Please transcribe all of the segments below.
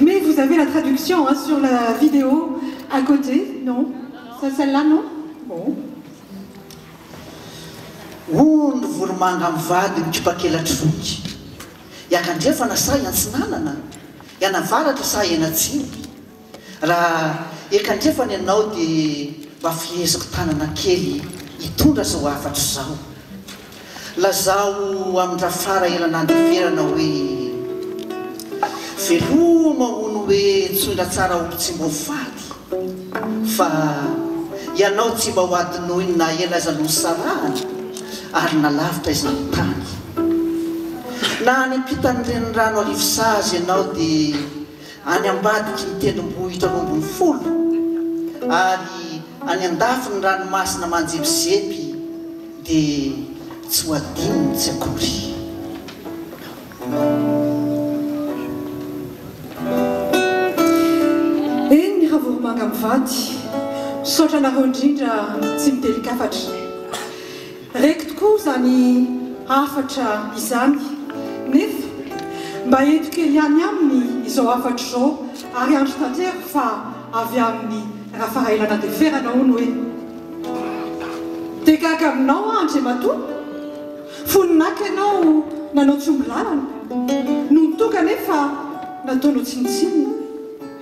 Mais vous avez la traduction hein sur la vidéo à côté non? C'est celle là non? Bon. Hono ny voromanga mivady mikipak'elatry voky. Hiankandrefana sa hiantsinanana? Hianavaratra sa hianatsimo? Raha eka andrefana ianao dia mba feheziko tanana kely hitondra izao hafatro izao. Lazao amin-dRafara ela nandeferana hoe, Veloma hono hoe Tsoindratsara Olontsimboafady fa ianao tsy mba ho adinoiny na ela aza nosarahana ary nalavitra izany tany. Na any am-pitan'ny renirano Arivosazy ianao dia. any ambadiky ny tendrombohitra roa ambin'ny folo ary any andafy ny ranomasina manjepizepy dia tsy ho adinony tsy akory. Eny ny havoromanga mivady. Misaotra anareo indrindra tsy mitely-kafatra. Reko tokoa izany hafatra izany, nefa mba eto kely ihany aminy izao hafatra izao ary andro tanteraka fa avy aminy Rafarailana de Ferana hono hoe, de gaga aminao aho Andriamatoa, fony naka ianao nanao tsy omby lalana, nony tonga anefa nataonao tsinontsinona.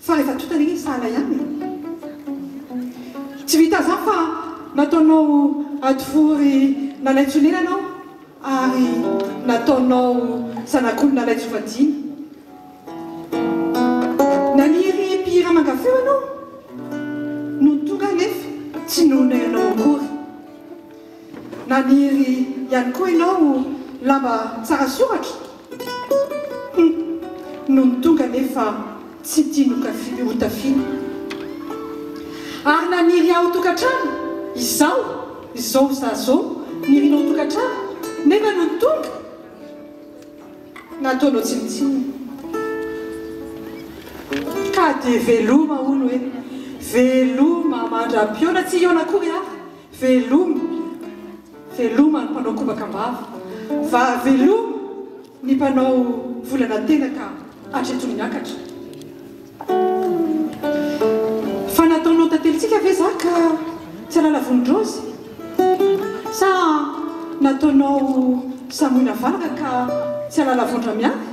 Fa efa tonta ange sahala ihany e! Tsy vita zah fa nataonao hadivory nalaitson'elana aho ary nataonao zanak'olona nalaitsovadiana. Naniry mpihira manga feo ianao nony tonga nefa tsy noho-nao akory. Naniry ihany koa ianao lamba tsara soratra? Hum, nony tonga anefa tsy tia nokafi hotafiana. Ary naniry aho tokantrano? Izao, izao za zao nirinao tokantrano nefa nony tonga, nataonao tsinontsinona. Ka dia veloma hono e, veloma mandra-pihaona, tsy hihaona akory aho. Veloma, veloma ny mpanao kobaka am-bava fa veloma ny mpanao volana tena ka hatreto ny miakatra. Fa nataonao tantelintsika ve za ka tsy alala vonindraozy? Sa nataonao samoina valaka ka tsy alala vondra miafy?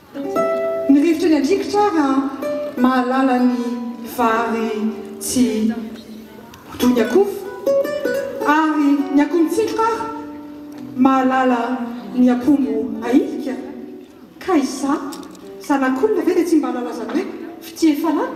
Mirefitry ny andrikitra ary an! Mahalala ny vary tsy ho toy ny akoho ary ny akoho mitsindroka ary mahalala ny apombo ahilika. Kay sa zanak'olona ve dia tsy mba hahalala izany hoe fitia efa lany?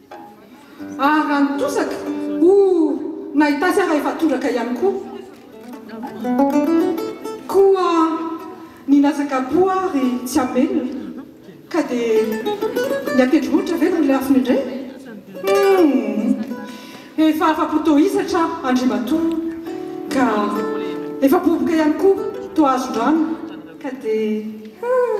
Ary raha ny tosaka, oh, nahita azy aho rehefa tondraka ihany koa. Koa nilatsaka am-po aho ry tsy hamelona. Ka dia ny an-tendrombohitra ve no lafiny indray? Humm. Efa afa-po tohisatra aho, Andriamatoa, ka efa boboka ihany koa toa hazon-drano. Ka dia, huh.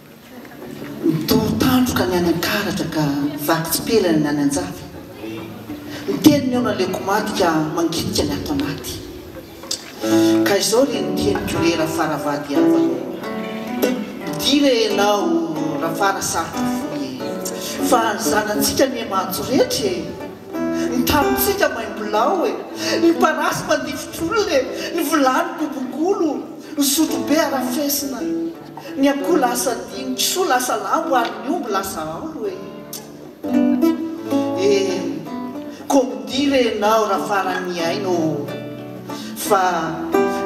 Nitory tandroka ny any an-karatra ka vaky tsipelina ny any an-java. Niteny ny eo naleoko maty ka manginika ny ato anaty. Ka izao re ny teniko re Rafaravady havana ô! Dia re ianao Rafarasarotra fohy e! Fa ny zanantsika anie maty rehetra e! Ny tanintsika maimbolao e! Ny parasy mandifotr'olona e! Ny vilany bobongolo, ny sotrobe arafesina. Ny akoho lasa dihy, ny kisoa lasa lambo ary ny omby lasa aolo e! Eh, koa midia re ianao raha farany mihaino ô! Fa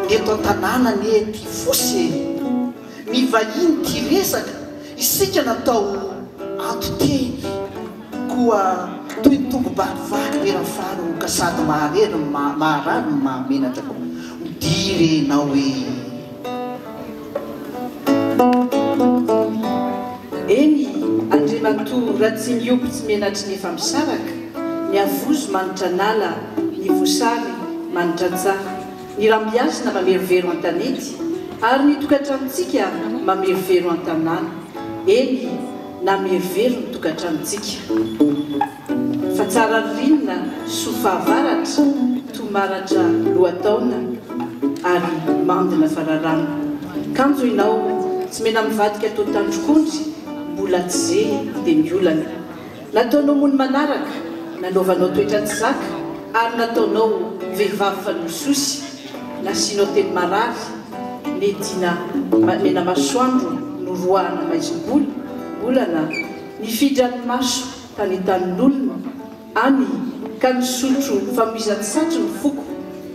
ny eto an-tanàna anie tia fosy e! Ny vahiny tia resaka, isika natao anton-teny. Koa toy ny tongo-bary vaky be rafaro ka sady maharery no maharary no mahamenatra. Midia re ianao e! Eny, Andriamatoa Ratsimihopy tsy menatry ny efa misaraka, ny havozo manitra an'ala, ny voasary manitra an-tsaha, ny rambiasina mamerovero an-tanety, ary ny tokantranontsika mamerovero an-tanàna. Eny, namerovero ny tokantranontsika. Fa tsara vilona soa fahavaratra toa maratra lohataona ary mandina fa raràna kanjo inao tsy mena mivadika toa tandrok'ondry mbola tsy ze dia miolana nataonao mony manaraka nanaovanao toetra tsy zaka ary nataonao vehivavy fanososy nasianao teny marary nediana mena masoandro noroahana maizim-bola mbolana nifidran'ny maso tany Tanin'olona any ka nisotro famoizan-tsatro ny foko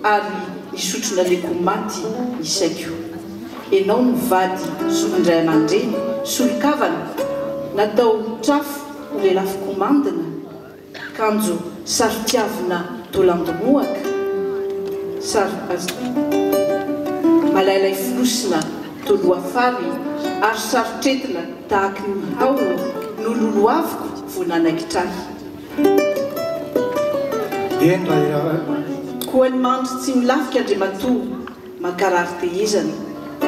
ary nisotro naleko maty ny saiko. Enao no vady solon-dray aman-dreny, solon-kavana, natao trafo ho lelafo komandina, kanjo saro-tiavina dolandomohaka, saro malailay fonosina toloha fary ary saro-tretina Tahaky ny hao no lolohaviko vao nanaikitra ahy. Eny raha iarahiko. Koa ny mando tsy milafika Andriamatoa mankarary tehezana,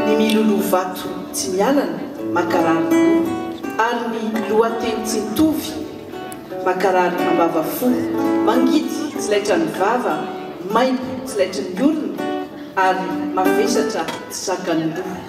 ny miloloha vato tsy mialana mankarary loha, ary ny lohateny tsy mitovy mankarary ambavafo, mangidy tsy laitran' ny vava, maimbo tsy laitry ny orona, ary mavesatra tsy zakan' ny loha.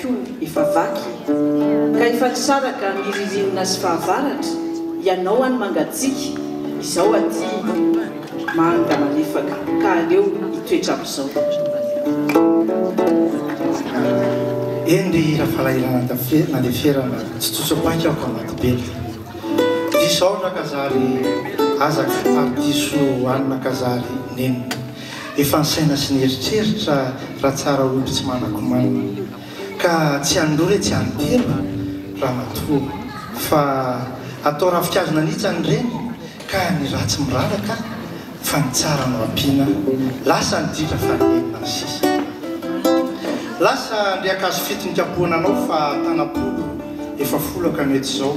koa efa vaky e! Ka efa nisaraka ny ririnina sy fahavaratra Ianao any mangatsiaka, izaho aty manga malefaka Ka aleo hitoetra amin'izao. Eny ry hira falahelo nandeferana Tsy tsotso-paika aho ka maty be Diso aona ka zary azaka Ary diso anona ka zary nino Efa ny saina sy ny eritreritra raha tsara omby tsy manakomanina. Ka tsy an'ny roa re tsy an'ny telo ramatoa fa atao ravinkazo nanitsany ireny ka ny ratsy miraraka fa ny tsara no ampiana. Lasa ny ditra fa ny enina ny sisa. Lasa andriankazo fito nikapohana anao fa tanam-polo efa folaka no eto izao.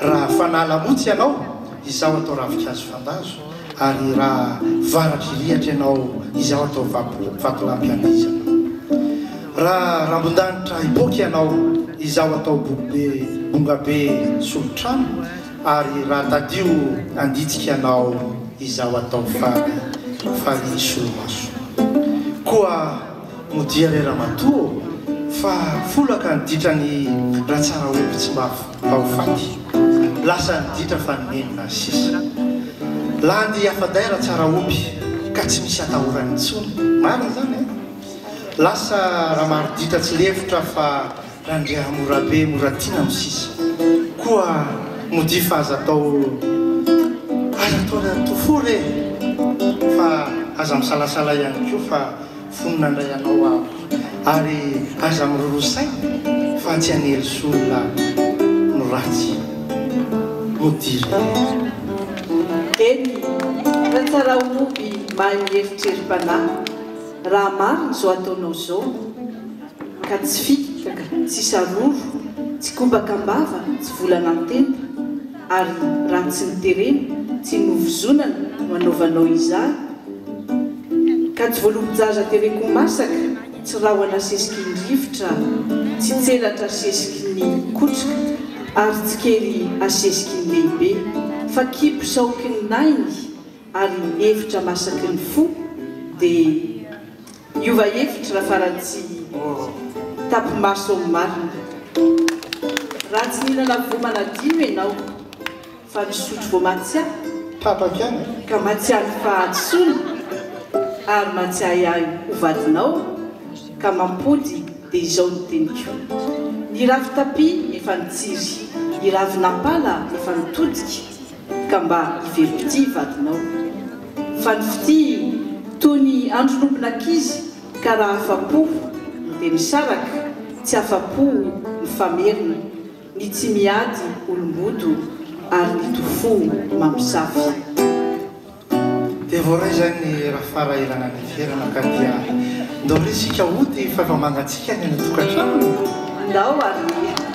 Raha fanala motsy ianao, izaho atao ravin-kazo fandazo, ary raha varatry rihatra ianao, izaho atao vatolampy andizana. Raha rambon-danitra hipoaka ianao, izaho atao bokobe, bongabe, solon-trano, ary raha tadio anditsika ianao, izaho atao fary, fary solomaso. Koa modia re ramatoa ô, fa folaka ny ditran'ny ratsaraholo-tsimbavy. Fa ho faty. Lasa niditra fa nenina sisa. Landy i Afadaira tsara omby ka tsy misy atahorany intsony. Marina izany eh! Lasa Ramaroditra tsy lefitra fa Randriamorabe mora tiana no sisa. Koa modia fa aza atao aza atao ry antofory eh! Fa aza misalasala ihany koa fa. fony nandray anao aho ary aza miroro saina fa tsy anely sy olona no ratsy no diriry. Eny fa tsara oby mahay mieritrerim-panahy raha marina zao ataonao zao ka tsy fikitra ka tsy saroro tsy kobaka am-bava tsy volana an-tenda. ary raha tsy ny terena tsy novozonana no anaovanao izany ka tsy voalobo-jaza tereko masaka tsy rahona sesiky ny rivotra tsy tselatra sesiky ny kotroka ary tsy kely asesiky ny lehibe fa kibo saoky ny nainy ary efitra masaky ny fo dia Hiova hevitra raha farany tsy tapi-maso amin'ny marina. Raha tsy nihinana voa manadino ianao fa nisotro voa matsiahy. Tapaka ihany. Ka matsiahy fahadisoana ary matsiahy ahy ho vadinao ka mampody dia izao ny teniko. Ny rafi-tapia efa nitsiry, ny ravin'ampala efa nitodika. Ka mba hevero fitia vadinao. Fa ny fitia toy ny andron'ombilankizy ka raha afa-po no dia misaraka, tsy afa-po mifamerina, ny tsy miady olom-boto ary ny to fo mamosavy. Dia voaray izany ny Rafarahelana ny Fierana ka dia ndao re isika hody fa efa mangatsiaka ny any an-tokantrano e! Ndao ary e!